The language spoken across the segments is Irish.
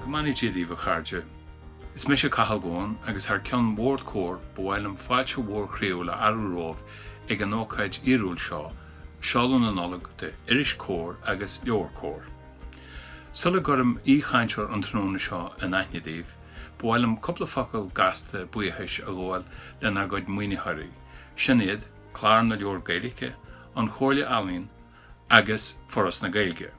Go mbeannaí Dia daoibh a chairde. Is mise Cathal Goan agus thar ceann Bhord Comhair ba mhaith liom fáilte mhór chroíúil a fhearadh romhaibh ag an ócáid fhíorúil seo, seoladh na Nollag de Iris Comhar agus Leabhar Comhar. Sula gcuirim aoi-chainteoir an tráthnóna seo in aithne daoibh, Ba mhaith liom cúpla focal gasta buíochais a ghabháil lenár gcuid maoinitheoirí, sin iad Clár na Leabhar Gaeilge, an Chomhairle Ealaíon agus Foras na Gaeilge.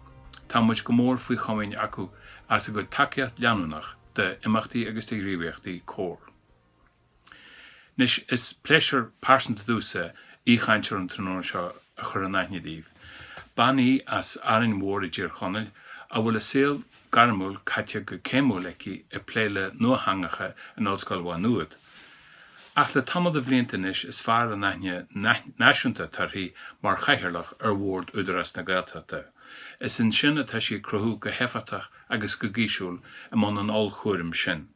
Tá muid go mór faoi chomaoin acu as a gcuid tacaíocht leanúnach d'imeachtaí agus do ghníomhaíochtaí Comhair. Anois, is pléisiúr pearsanta domhsa aoichainteoir an tráthnóna seo a chur in aithne daoibh. Bean í as Árainn Mhór i dTír Chonaill, a bhfuil a saol gairmiúil caite go céimiúil aici ag plé le nuatheangacha in Ollscoil Mhá Nuad. Ach le tamall de bhlianta anois is fearr an aithne náisiúnta atá uirthi mar chathaoirleach ar Bhord Údarás na Gaeltachta. Is ansin atá sí ag cruthú go héifeachtach agus go gaisciúil i mbun an ollchúraim sin.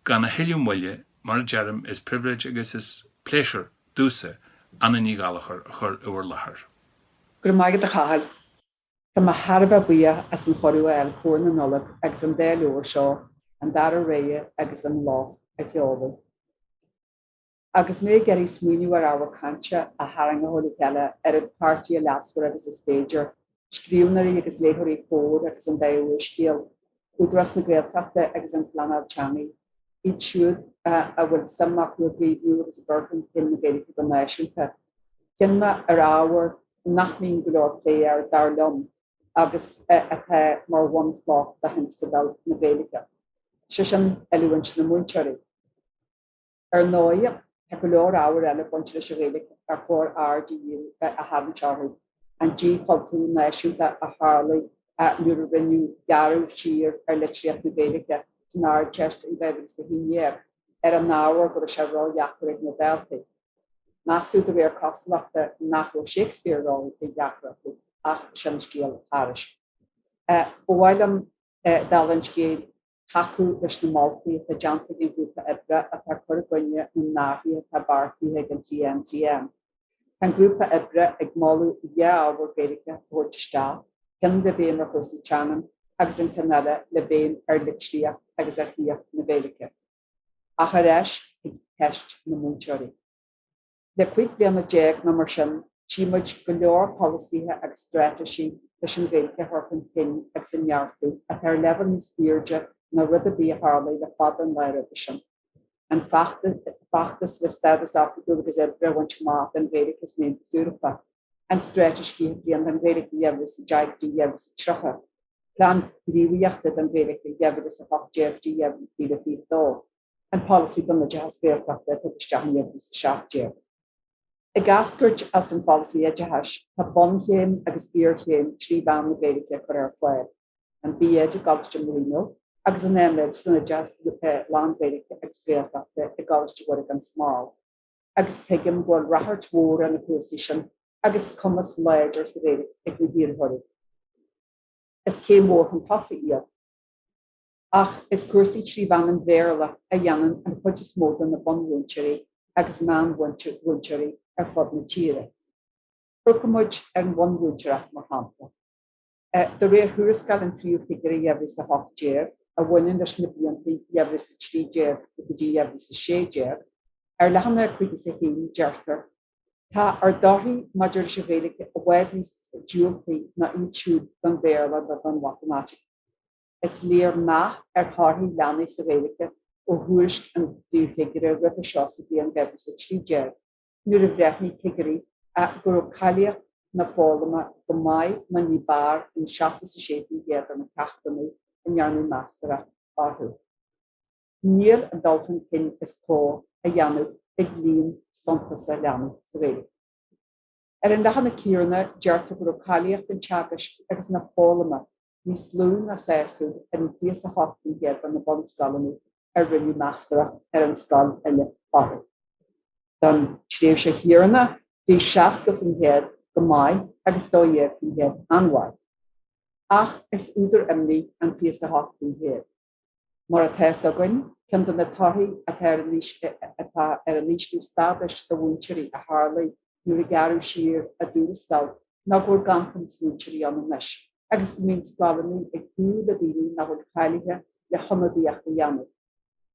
Gan a thuilleadh moille, mar a deirim, is pribhléid agus is pléisiúr domhsa Anna Ní Ghallachair a chur i bhur láthair. Go raibh maith agat, a Chathail. Tá mé thar a bheith buíoch as cuireadh a fháil Comhar na Nollag agus an dá leabhar seo, An Dara Rogha agus An Clog, a sheoladh. Agus mé ag iarraidh smaoineamh ar ábhar cainte a tharraingeoidh le chéile oiread páirtithe leasmhara agus is féidir, scríbhneoirí agus léitheoirí Comhar agus an dá úrscéal, Údarás na Gaeltachta agus an phleanáil teanga, iad siúd a bhfuil suim acu i gcaomhnú agus i gcur chun cinn na Gaeilge go náisiúnta, chinn mé ar ábhar nach mbíonn go leor plé air, dar liom, agus atá mar bhunchloch do thionscadal na Gaeilge, sé sin, oiliúint na múinteoirí. Ar ndóigh, tá go leor ábhair eile ag baint leis an Ghaeilge ar chóir aird a tharraingt orthu, an díchultúrú náisiúnta a tharla nuair a rinneadh gearradh siar ar litríocht na Gaeilge san Ardteist in 2011 ar an ábhar go raibh sí ródheacair ag na daltaí measadh de réir cosúlachta nach raibh Shakespeare ródheacair acu, ach sin scéal thairis. Ba mhaith liom dála an scéil. tacú leis na moltaí atá déanta ag an ghrúpa oibre atá ag cur i gcoinne na n-athruithe atá beartaithe ag an CNCM. Tá an grúpa oibre ag moladh dhá ábhar Gaeilge a thabhairt isteach, ceann le béim ar chúrsaí teangan agus an ceann eile le béim ar litríocht agus ar shaíocht na Gaeilge, ach ar ais chuig ceist na múinteoirí. Le cúig bliana déag nó mar sin, tchí muid go leor polasaithe agus straitéisí leis an Ghaeilge a chur chun cinn agus a neartú atá ar leibhéal níos aoirde ná rud ar bith a tharlaigh le fada an lá roimhe sin, an feachtas le stádas oifigiúil agus oibre a bhaint amach don Ghaeilge san Aontas Eorpach, an straitéis 20 bliain don Ghaeilge 2010-2030, plean gníomhaíochta don Ghaeilge 2018-2022. an Polasaí don Oideachas Gaeltachta a tugadh isteach in 2017. Ag eascairt as an Pholasaí Oideachais tá bunchéim agus iarchéim trí mheán na Gaeilge a chur ar fáil, an B.Ed i gColáiste Marino agus an M.Ed san Oideachas lán-Ghaeilge agus Gaeltachta i gColáiste Mhuire gan Smál, agus tuigim go bhfuil rachairt mhór ar na cúrsaí sin agus cumas láidir sa Ghaeilge ag na hiarrthóirí. Is céim mhór chun tosaigh iad. Ach is cúrsaí trí mheán an Bhéarla a dhéanann an chuid is mó de na bunmhúinteoirí agus meánmhúinteoirí ar fud na tíre. Féachfaimid ar an bhunmhúinteoireacht mar shampla. De réir thuarascáil an Phríomhchigire 2018, a bhaineann leis na blianta 2013 go dtí 2016, ar leathanach 51, deirtear. Tá ár dtorthaí maidir leis an Ghaeilge i bhfad níos diúltaí ná iad siúd don Bhéarla nó don Mhatamaitic. Is léir meath ar thorthaí leanaí sa Ghaeilge ó thuairisc an Phríomhchigire roimhe seo sa bhliain 2013, nuair a bhreithnigh cigirí go raibh cáilíocht na foghlama go maith nó ní b'fhearr in 76% de na ceachtanna a ndearnadh meastóireacht orthu. Níl an dul chun cinn is gá a dhéanamh ag líon suntasach leanaí sa Ghaeilge. Ar an leathanach céanna, deirtear go raibh cáilíocht an teagaisc agus na foghlama níos lú ná sásúil ar 28% de na bunscoileanna ar rinneadh meastóireacht ar an scoil uile orthu. Don tréimhse chéanna bhí 60% go maith agus 12% an-mhaith. Ach is údar imní an 28% Mar atá fhios againn, ceann de na torthaí atá ar an ísliú stádais do mhúinteoirí a tharlaigh nuair a gearradh siar a dtuarastal ná go bhfuil ganntanas múinteoirí ann anois agus go mbíonn scoileanna ag súil le daoine nach bhfuil cáilithe le hionadaíocht a dhéanamh.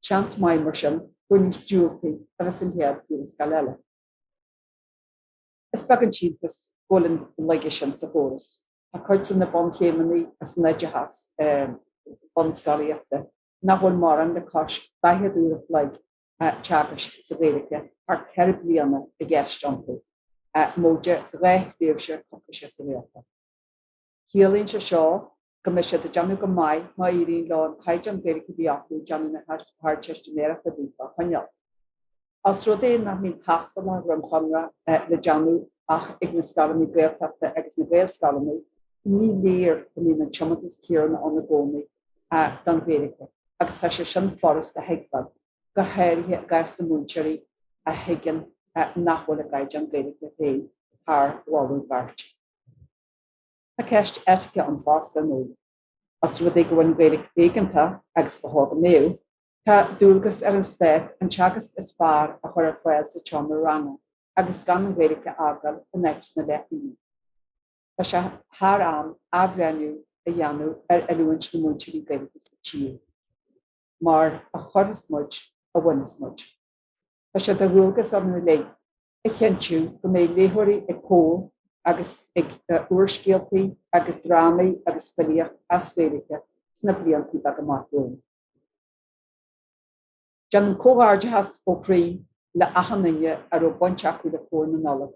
Seans maith, mar sin, gur níos diúltaí a bheidh an chéad tuarascáil eile. Is beag an t-iontas go bhfuil an laige sin sa chóras. Tá cuid de na bunchéimeanna san oideachas bunscolaíochta nach bhfuil mórán le cois 40 uair an chloig teagaisc sa Ghaeilge thar 4 bliana i gceist iontu, móide dhá thréimhse coicíse sa Ghaeltacht. Ciallaíonn sé seo go mbeidh siad ag déanamh go maith má éiríonn leo an caighdeán Gaeilge a bhí acu ag déanamh na hArdteistiméireachta daofa a choinneáil. Os rud é nach mbíonn tástálacha ríomhchonartha le déanamh ach ag na scoileanna Gaeltachta agus na Gaelscoileanna, ní léir go mbíonn an tiomantas céanna ann i gcónaí don Ghaeilge agus tá sé sin furasta a thuigbheáil, go háirithe i gcás na múinteoirí a thuigeann nach bhfuil a gcaighdeán Gaeilge féin thar mholadh beirte. Tá ceist eitice ann fosta, nó. Os rud é go bhfuil an Ghaeilge éigeantach agus go hóg-mhaíodh, tá dualgas ar an Stát an teagasc is fearr a chur ar fáil sa tseomra ranga agus gan an Ghaeilge a fhágáil in áit na leithphingine. Tá sé thar am athbhreithniú a dhéanamh ar oiliúint na múinteoirí Gaeilge sa tír. Mar a chuireas muid, a bhaineas muid. Tá sé de dhualgas orainn uilig. a chinntiú go mbeidh léitheoirí ag Comhar agus ag úrscéaltaí agus drámaí agus filíocht as Gaeilge sna blianta beaga amach romhainn. Déanaim comhghairdeachas ó chroí le achan duine a raibh baint acu le Comhar na Nollag,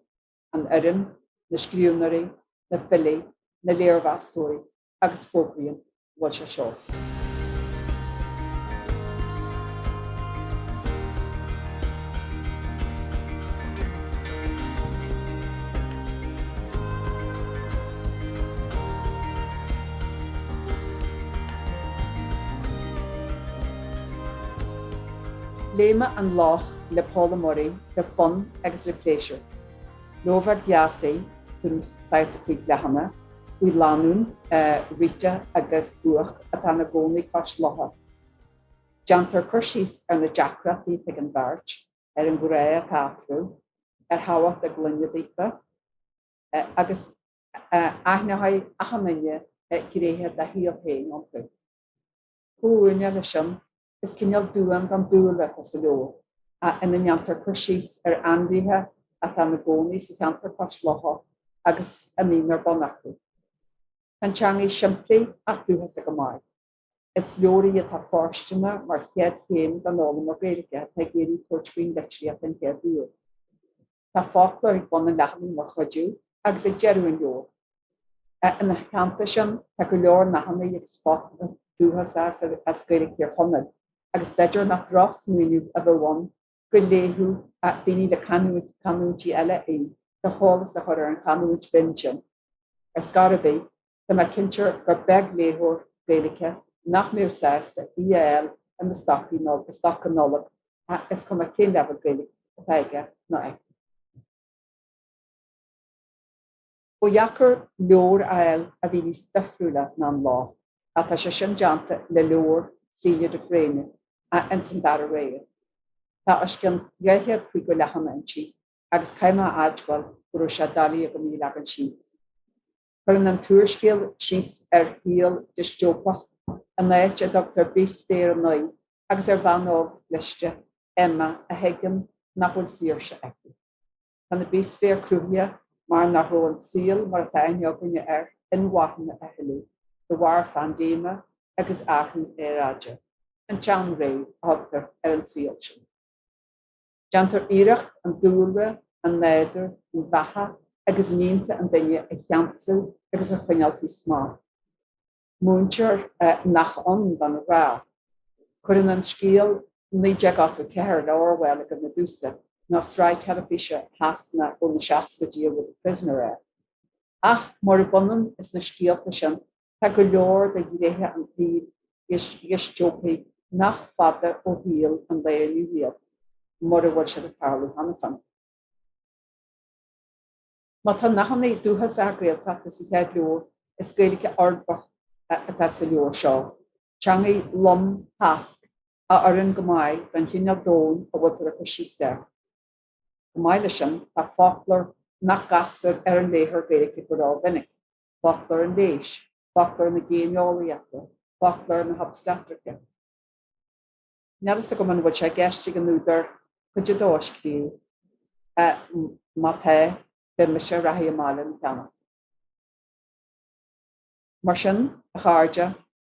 an fhoireann, na scríbhneoirí, na filí, na léirmheastóirí agus fógraím go bhfuil sé seolta. Léigh mé An Loch le Paula Murray le fonn agus le pléisiúr. Leabhar deas í, tús, faiteadh faoi bhreitheanna. faoi lánúin, Rita agus Hugh, atá ina gcónaí cois locha. Déantar cur síos ar na deacrachtaí atá ag an bheirt, ar an ghrá atá eatarthu, ar thábhacht a gclainne daofa, agus aithneoidh achan duine gnéithe dá shaol féin iontu. Chomh maith leis sin, Is cineál duan don dúlra atá sa leabhar, ina ndéantar cur síos ar ainmhithe atá ina gcónaí sa cheantar cois locha agus a mbíonn ar bun acu. Tá an teanga simplí ach dúchasach go maith. Is leabhar í atá fóirsteanach mar chéad chéim don fhoghlaimeoir Gaeilge atá ag iarraidh tabhairt faoin litríocht den chéad uair. Tá foclóir ag bun an leathanaigh mar chuidiú agus ag deireadh an leabhair. Ina theannta sin, tá go leor nathanna agus focail dúchasacha as Gaeilge Thír Chonaill agus b'fhéidir nach drochsmaoineamh a bheadh ann go léifeadh daoine le canúintí eile í le heolas a chur ar an chanúint bhinn sin. Ar scor ar bith. Tá mé cinnte gur beag léitheoir Gaeilge nach mbeadh sásta í a fháil ina stoca Nollag, is cuma cén leibhéal Gaeilge atá aige nó aici. Ba dheacair leabhar a fháil a bhí níos difriúla ná an lá atá sé sin déanta le leabhar Celia de Fréine ins An Dara Rogha. Tá os cionn 250 leathanach inti agus caithfidh mé a admháil go raibh sé doiligh agam í a leagan síos. Cuireann an t-úrscéal síos ar shaol diostóipeach in áit a dtugtar Bithsféar a Naoi agus ar bhean óg chliste, Emma, a thuigeann nach bhfuil saoirse aici. Tá na bithsféir cruthaithe mar nach raibh an saol mar atá aithne againne air inmharthana a thuilleadh de bharr phaindéime agus athrú aeráide. An tseanré a thugtar ar an saol sin. Déantar iarracht an dúlra, an nádúr, an bheatha agus mianta an duine a cheansú agus a choinneáil faoi smacht. Múintear nach ann don ghrá. Cuireann an scéal 1984 le Orwell i gcuimhne domsa, nó sraith teilifíse Shasanach ó na seascaidí a bhfuil The Prisoner air. Ach, murab ionann is na scéalta sin, Tá go leor de ghnéithe an tsaoil dhiostóipigh nach fada ó shaol an lae inniu iad, mura bhfuil siad ag tarlú cheana féin. Má tá nathanna dúchasacha Gaeltachta sa gcéad leabhar, is Gaeilge uirbeach atá sa leabhar seo, teangaidh lom thasc a oireann go maith don chineál domhain a bhfuiltear ag cur síos air. Chomh maith leis sin, tá foclóir nach gcastar ar an léitheoir Gaeilge go rómhinic. foclóir an leighis, foclóir na géineolaíochta, foclóir na hobstatraice. Níl a fhios agam an bhfuil sé i gceist ag an údar cuid a dó a scríobh. Má tá, beidh mise ag reathaidh amach lena cheannach. Mar sin, a chairde,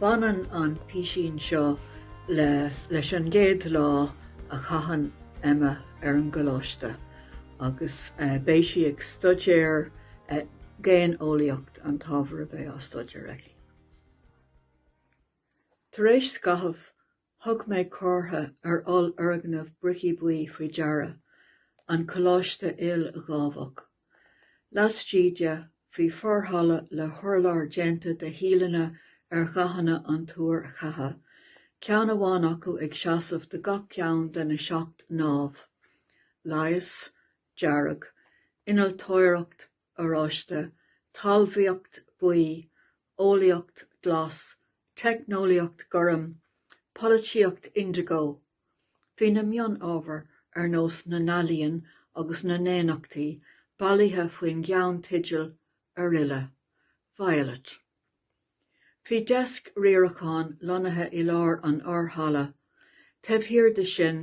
Baineann an písín seo le leis an gcéad lá a chaitheann Emma ar an gcoláiste agus beidh sí ag stuidéar Géineolaíocht an t-ábhar a bheidh á stuidéar aici. Tar éis scaithimh Thug mé comhartha ar ollfhoirgneamh bricí buí faoi deara, an coláiste ildámhach. Laistigh de, bhí forhalla le hurlár déanta de thíleanna ar dhathanna an tuair cheatha, ceann amháin acu ag seasamh do gach ceann de na seacht ndámh, leigheas, dearg, innealtóireacht, oráiste, talmhaíocht buí, eolaíocht glas, teicneolaíocht gorm, polaitíocht indeagó. Bhí na mion-ábhair, ar nós na n-ealaíon agus na ndaonnachtaí, bailithe faoin gceannteideal Araile, vialait. Bhí deasc riaracháin lonnaithe i lár an fhorhalla. Taobh thiar de sin,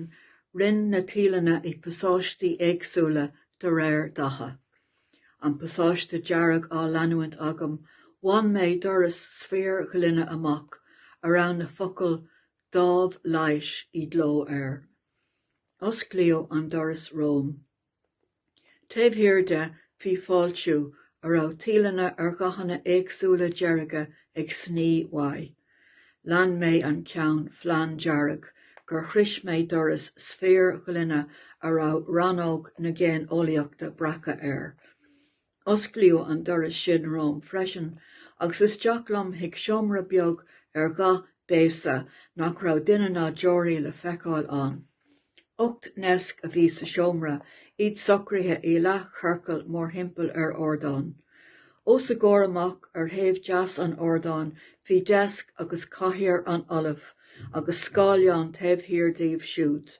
roinn na tíleanna i bpasáistí éagsúla de réir datha. An pasáiste dearg á leanúint agam, bhain mé doras sféar-ghloine amach a raibh na focail 'Dámh Leighis' i gcló air. Osclaíodh an doras romham. Taobh thiar de, bhí fáiltiú a raibh tíleanna ar dhathanna éagsúla dearga ag sní uaidh. Lean mé an ceann flanndearg gur shrois mé doras sféir-ghloine a raibh Rannóg na Géineolaíochta breactha air. Osclaíodh an doras sin romham freisin agus isteach liom chuig seomra beag ar dhath béasa nach raibh duine ná deoraí le feiceáil ann. Ocht ndeasc a bhí sa seomra, iad socraithe i leathchiorcal mórthimpeall ar ardán. Os a gcomhair amach ar thaobh deas an ardáin bhí deasc agus cathaoir an ollaimh agus scáileán taobh thiar díobh siúd.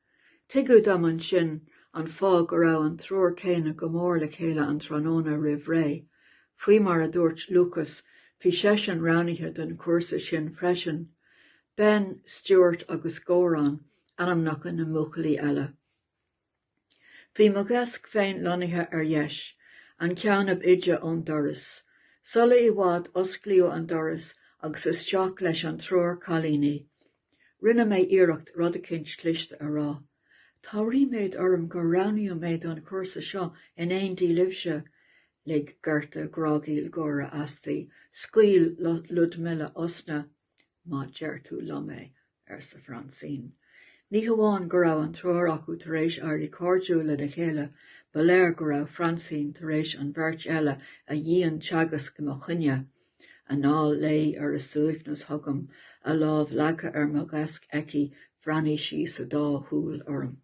Tuigeadh dom ansin an fáth go raibh an triúr céanna go mór le chéile an tráthnóna roimh ré. Faoi mar a dúirt Lúcas, bhí seisean roghnaithe don chúrsa sin freisin. Ben, Stuart agus Goran ainmneacha na mbuachaillí eile. Bhí mo dheasc féin lonnaithe ar dheis, an ceann ab fhaide ón doras. Sula i bhfad, osclaíodh an doras agus isteach leis an triúr cailíní. Rinne mé iarracht rud eicínt cliste a rá. Tá ríméad orm gur roghnaíodh mé don chúrsa seo in éindí libhse. Lig Gerta grágaíl gáire asti. Scaoil Ludmilla osna. Má deir tú liom é! arsa Francine. Ní hamháin go raibh an triúr acu tar éis éirí cairdiúil lena chéile, ba léir go raibh Francine tar éis an bheirt eile a dhianteagasc i mo choinne. anall léi ar a suaimhneas chugam, a lámh leagtha ar mo dheasc aici, bhreathnaigh sí sa dá shúil orm.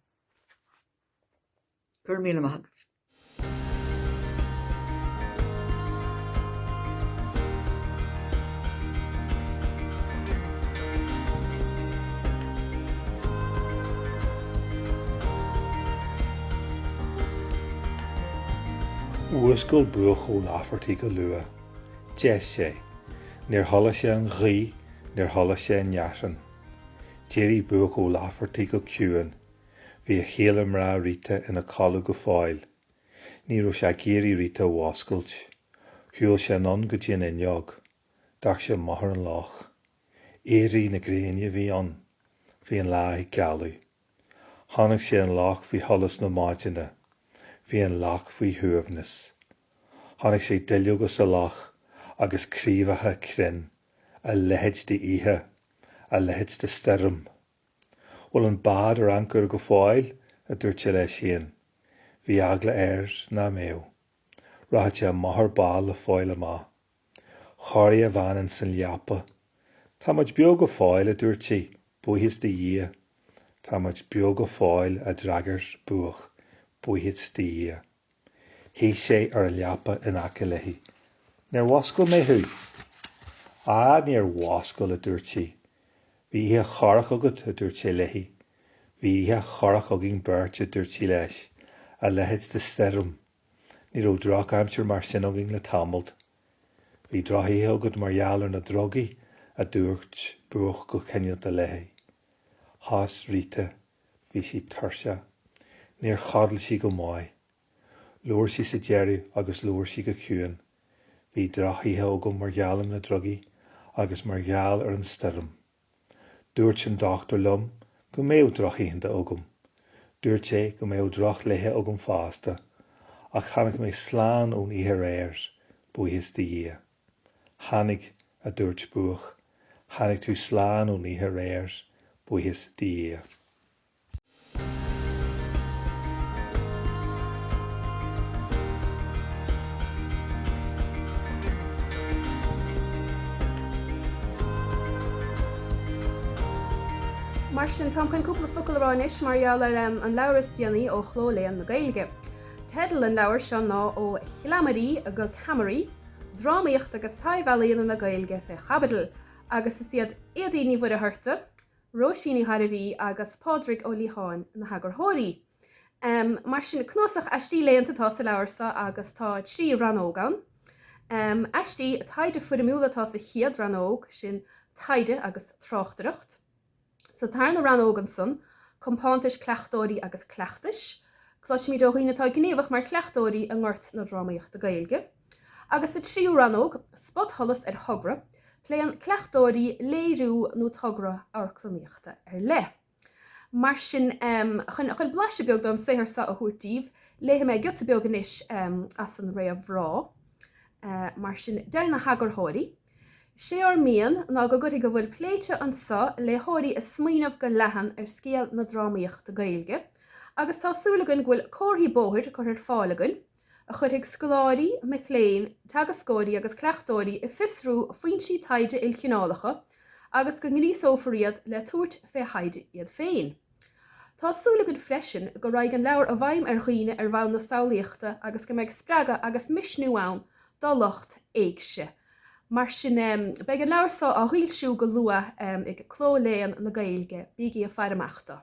Go raibh míle maith agat. Mhúscail Buachaill Lafferty go luath. D'éist sé. Níor chuala sé an ghaoth, níor chuala sé an fhearthainn. D'éirigh Buach Ó Laifeartaigh go ciúin. Bhí a chéile mná Rita ina codladh go fóill. Ní raibh sé ag iarraidh Rita a mhúscailt. Shiúil sé anonn go dtí an fhuinneog. D'amharc sé amach ar an loch. Éirí na gréine a bhí ann. Bhí an lá ag gealadh. Chonaic sé an loch faoi sholas na maidine. Bhí an loch faoi shuaimhneas. Chonaic sé duilleoga sa loch agus craobhacha crainn, a leithéid d'oíche, a leithéid de stoirm. Bhfuil an bád ar ancaire go fóill? a dúirt sé leis féin. Bhí eagla air nach mbeadh. Rachadh sé amach ar ball le fáil amach. Chorraigh a bhean insan leapa. 'Tá muid beo go fóill, a dúirt sí. 'Buíochas do Dhia. 'Tá muid beo go fóill, a d'fhreagair Buach. 'Buíochas do Dhia. Shuigh sé ar an leapa in aice léi. 'Níor mhúscail mé thú? 'Á, níor mhúscail, a dúirt sí. 'Bhí oíche chorrach agat, a dúirt sé léi. 'Bhí oíche chorrach againn beirt, a dúirt sí leis, 'a leithéid de stoirm. Ní raibh drochaimsir mar sin againn le tamalt. Bhí drochoíche agat mar gheall ar na drugaí, a dúirt Buach go cineálta léi. Thost Rita. Bhí sí tuirseach. Níor chodail sí go maith. Labhair sí sa deireadh agus labhair sí go ciúin. Bhí drochoíche agam mar gheall ar na drugaí agus mar gheall ar an stoirm. Dúirt an dochtúr liom go mbeadh drochoícheanta agam. Dúirt sé go mbeadh drochlaethe agam fosta, ach tháinig mé slán ón oíche aréir, buíochas do Dhia. Tháinig, a dúirt Buach, tháinig tú slán ón oíche aréir, buíochas do Dhia. Mar sin, táim chun cúpla focal a rá anois mar gheall ar an leabhar is déanaí ó Chló Léann na Gaeilge. Teideal an leabhair seo ná Ó Chleamairí go Ceamaraí, Drámaíocht agus Taibhealaíona na Gaeilge fé Chaibidil, agus is iad Éadaoin Ní Mhuircheartaigh, Róisín Ní Ghairbhí agus Pádraig Ó Liatháin na heagarthóirí. Mar sin, cnuasach aistí léannta atá sa leabhar seo agus tá trí rannóg ann. Aistí taighde foirmiúla atá sa chéad rannóg, sin taighde agus tráchtaireacht. Sa tarna rannóg ansan, compántais cleachtóirí agus cleachtais. Cloisimid ó dhaoine atá gníomhach mar chleachtóirí i ngort na drámaíochta Gaeilge. Agus sa tríú rannóg, spotsholas ar thogra, pléann cleachtóirí léiriú nó togra amharclannaíochta ar leith. Mar sin, chun blaiseadh beag den saothar seo a thabhairt daoibh, léifidh mé giota beag anois as an réamhrá. Mar sin, deir na heagarthóirí, Sé ár mian ná go gcuirfidh a bhfuil pléite anseo léitheoirí ag smaoineamh go leathan ar scéal na drámaíochta Gaeilge. Agus tá súil againn go bhfuil comharthaí bóthair curtha ar fáil againn a chuirfidh scoláirí, mic léinn, teagascóirí agus cleachtóirí ag fiosrú foinsí taighde ilchineálacha agus go ngríosófar iad le tabhairt fé thaighde iad féin. Tá súil againn freisin go raghaidh an leabhar i bhfeidhm ar dhaoine ar bhonn na samhlaíochta agus go mbeidh spreagadh agus misniú ann do lucht éigse. Mar sin, beidh an leabhar seo á fhoilsiú go luath ag Cló Léann na Gaeilge. Bígí ag faire amach dó.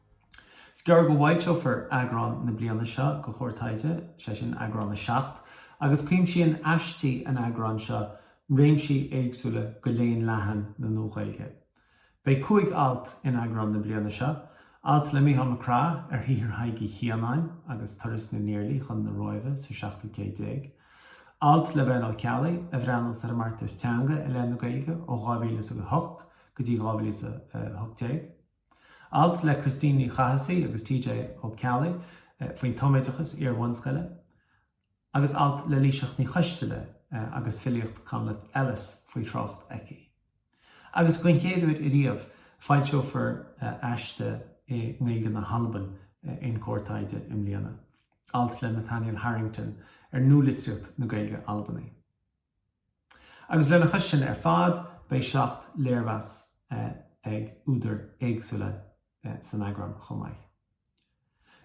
Is gearr go bhfoilseofar eagrán na bliana seo de Comhar Taighde, sé sin, eagrán 7, agus cuimsíonn aistí an eagráin seo réimsí éagsúla de léann leathan na Nua-Ghaeilge. Beidh cúig alt in eagrán na bliana seo, alt le Micheál Mac Craith ar shaothar Thaidhg Uí Chianáin agus turas na nIarlaí chun na Róimhe sa seachtú céad déag, alt le Ben Ó Ceallaigh a bhreathnaíonn ar an mbeartas teanga i leith na Gaeilge ó 2008 go dtí 2018, Alt le Christine Ní Chathasaigh agus TJ Ó Ceallaigh faoin tumoideachas iar-bhunscoile, agus alt le Laoiseach Ní Choistealbha agus filíocht Conleth Ellis faoi thrácht aici. Agus den chéad uair ariamh, foilseofar aiste i nGaeilge na hAlban in Comhar Taighde i mbliana, alt le Nathaniel Harrington ar nualitríocht na Gaeilge Albanaí. Agus lena chois sin ar fad, beidh seacht léirmheas ag údair éagsúla san eagrán chomh maith.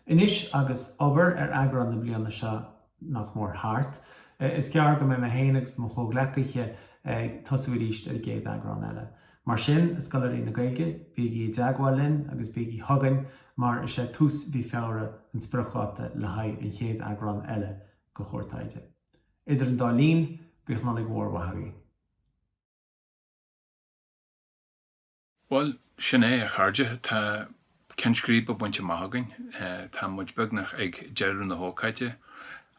Anois agus obair ar eagrán na bliana seo nach mór thart, is gearr go mbeidh mé féin agus mo chomhghleacaithe ag tosú arís ar an gcéad eagrán eile. Mar sin, a scoláirí na Gaeilge, bígí i dteagmháil linn agus bígí chugainn mar is é tús mhí Feabhra an spriocdháta le haghaidh an chéad eagrán eile de Chomhar Taighde. Idir an dá linn, b'íocshlánaigh mhór mhaith í. Bhuel, sin é, a chairde, tá ceann scríbe bainte amach againn, tá muid beagnach ag deireadh na hócáide.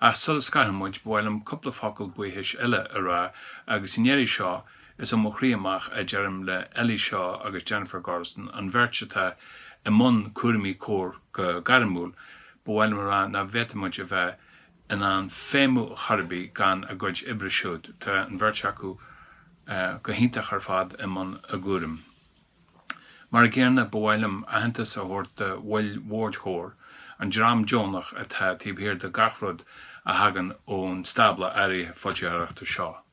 Ach sula scarfaidh muid, ba mhaith liom cúpla focal buíochais eile a rá, agus i ndeireadh seo, is ó mo chroí amach a deirim le Ellie Shaw agus Jennifer Gordon, an bheirt atá i mbun cúraimí Comhar go gairmiúil, ba mhaith liom a rá nach bhféadfadh muid a bheith in ann feidhmiú Choiribe gan a gcuid oibre siúd. Tá an bheirt acu go hiontach ar fad i mbun a gcúraim. Mar an gcéanna, ba mhaith liom aitheantas a thabhairt do bhaill Bhord Chomhar, an dream deonach atá taobh thiar de gach rud a thagann ón stábla áirithe foilsitheoireachta seo.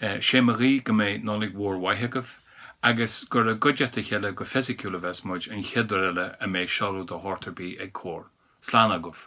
'Sé mo ghuí go mbeidh Nollaig Mhór Mhaith agaibh agus gur i gcuideachta a chéile go fisiciúil a bheas muid an chéad uair eile a mbeidh seoladh de shórt ar bith ag Comhar. Slán agaibh.